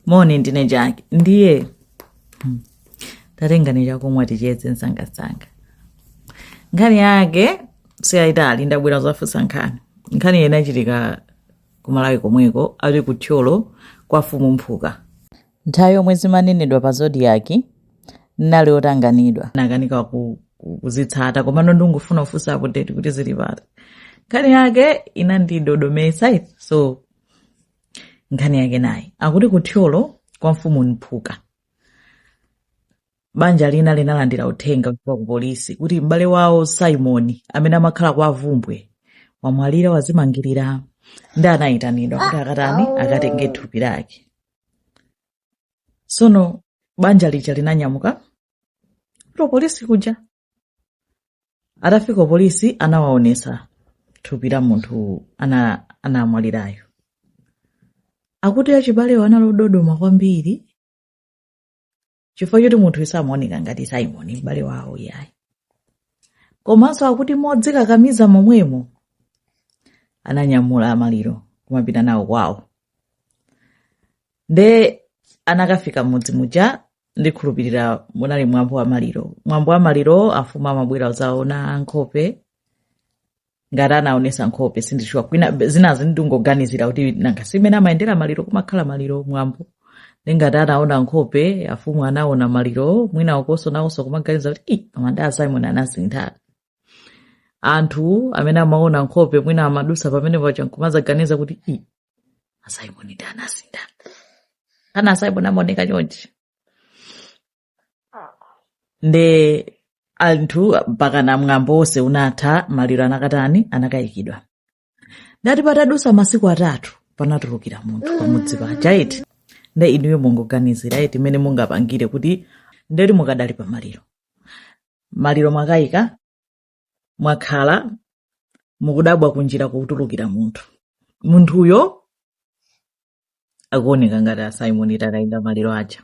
moni ndine jaki ndiye hmm, tatengani chakumwa ticheze msangamsanga nkhani yake siyayitali ndabwera kuzafunsa nkhani nkhani ina yachitika kumalawi komweko ali ku thyolo kwa mfumu mphuka nthawi yomwe zimanenedwa pa zodiyaki nnali otanganidwa nakanika ku- ku- kuzitsata komano ndingofuna kufunsa apudeti kuti zili pati nkhani yake inandidodometsa so nkhani yake nayi akuti ku thyolo kwa mfumu mphuka banja lina linalandira uthenga kuchokera ku polisi kuti m'bale wawo simon amene amakhala kwa bvumbwe wamwalira wazimangirira ndi anayitanidwa kuti akatani akatenge thupi lake sono banja lija linanyamuka kuti polisi kuja atafika polisi anawaonesa thupi la munthu anamwalirayo akuti achibalewo analododoma kwambiri chifukwa choti munthu samaoneka ngati simoni m'bale wawo iyayi komanso akuti modzikakamiza momwemo ananyamula maliro kumapita nawo kwawo nde anakafika mudzi muja ndikhulupirira munali mwambo wa maliro mwambo wa maliro amfumu amabwera kuzaona nkhope ngati anaonesa nkhope sindishuwa koma zinazi ndingoganizira kuti nanga simene amayendera maliro kumakhala maliro mwambo ndingati anaona nkhope afumu anaona maliro mwina nkuso nawoso kumaganiza kuti "Ih, koma nde a simon anasintha anthu amene amaona nkhope mwina amadusa pamene paja nkumazaganiza kuti "Ih, asaimoni nde anasintha kana asaimoni amaoneka chonchi nde anthu mpakana mwambo wonse unatha maliro anakatani anakayikidwa nde ati patadutsa masiku atatu panatulukira munthu pamudzi paja eti nde inuyo mungoganizira eti mmene mungapangire kuti nde muli mukadali pa maliro maliro mwakayika mwakhala mukudabwa kunjira kutulukira munthu munthuyo akuoneka ngati asimon takaika maliro aja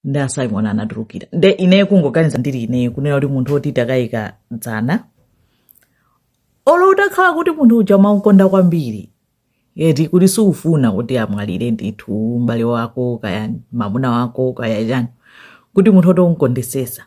nde asimon anatulukira nde ineyo kungoganiza ndiri ineyo kunena kuti munthu woti takayika dzana olo utakhala kuti munthu uja umamukonda kwambiri eti kuti siufuna kuti amwalire ndithu mbale wako kaya mamuna wako kaya chani kuti munthu woti umkondesesa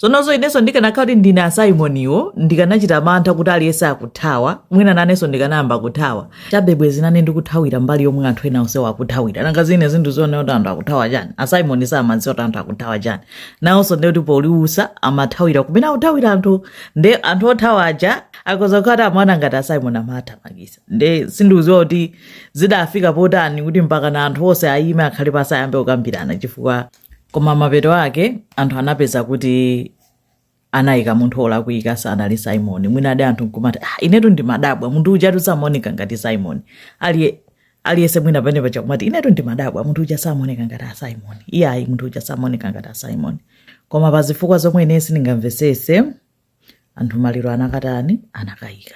zononso inenso ndikanakhala kuti ndine asaimoniwo ndikanachita mantha kuti aliyense akuthawa mwina nanenso ndikanayamba kuthawa chabe bwezi nane ndikuthawira mbali yomwe anthu ena onsewo akuthawira nanga zina zinthu uzione kuti anthu akuthawa chani asaimoni samadziwa kuti anthu akuthawa chani nawonso ndiye kuti powaona amathawira kumene akuthawira anthu nde anthu othawa aja akhoza kuti amaona ngati asaimoni amawathamangitsa nde sindikudziwa kuti zidafika potani kuti mpakana anthu onse ayime akhale pansi ayambe kukambirana chifukwa koma mapeto ake anthu anapeza kuti anayika munthu olakwika sanali simoni mwina ndi anthu nkumati ah, inetu ndimadabwa munthu uja samaoneka ngati simoni aliye aliyese mwina penapake kumati inetu ndimadabwa munthu uja samaoneka ngati asimoni iyayi munthu uja samaoneka ngati asimoni koma pa zifukwa zomwe ine sindingamvesese anthu maliro anakatani anakayika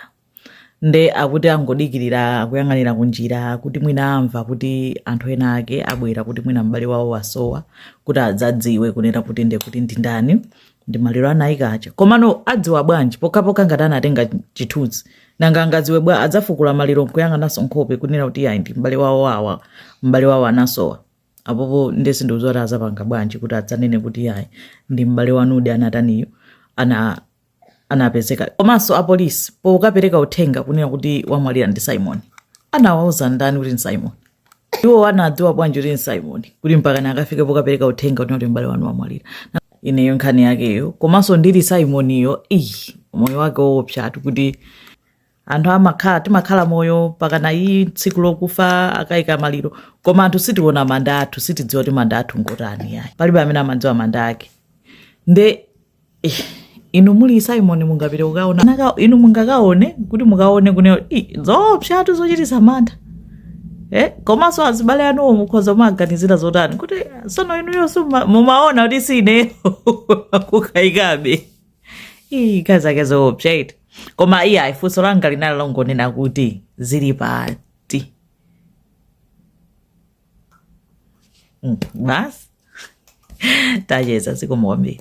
nde akuti angodikirira kuyang'anira kunjira kuti mwina amva kuti anthu ena ake abwera kuti mwina m'bale wawo wasowa kuti adzadziwe kunena kuti nde kuti ndi ndani ndi maliro anayika aja komano adziwa bwanji pokhapokha ngati anatenga chithunzi nanga angadziwe bwa adzafukula maliro nkuyang'ananso nkhope kunena kuti ayi ndi m'bale wawo awa m'bale wawo anasowa apapa nde sindikudziwa kuti azapanga bwanji kuti adzanene kuti ayi ndi m'bale wanudi anataniyo ana anapezeka komanso apolisi pokapereka uthenga kunena kuti wamwalira ndi simon anawauza ndani kuti ndi simon iwo anadziwa bwanji kuti ndi simon kuti mpakana akafike pokapereka uthenga kunena kuti m'bale wanu wamwalira ineyo nkhani yakeyo komanso ndili simoniyo iyi moyo wake woopsatu kuti anthu amakhala timakhala moyo mpakana iyi tsiku lokufa akayika maliro koma anthu sitiona manda athu sitidziwa kuti manda athu ngotani yayi palibe amene amadziwa manda ake nde eh, inu muli simon mungapite kukaona Naka- inu mungakaone kuti mukaone kuti ineyo zoopsatu zochitisa mantha Eh, komanso azibale anuwo mukhoza kumaganizira zotani kuti sono inuyo si muma- mumaona kuti si ineyo kukayikabe Ii, nkhani zake zoopsa eti koma iyayi funso langa linali longonena kuti zili pati Mm, basi tacheza zikomo kwambiri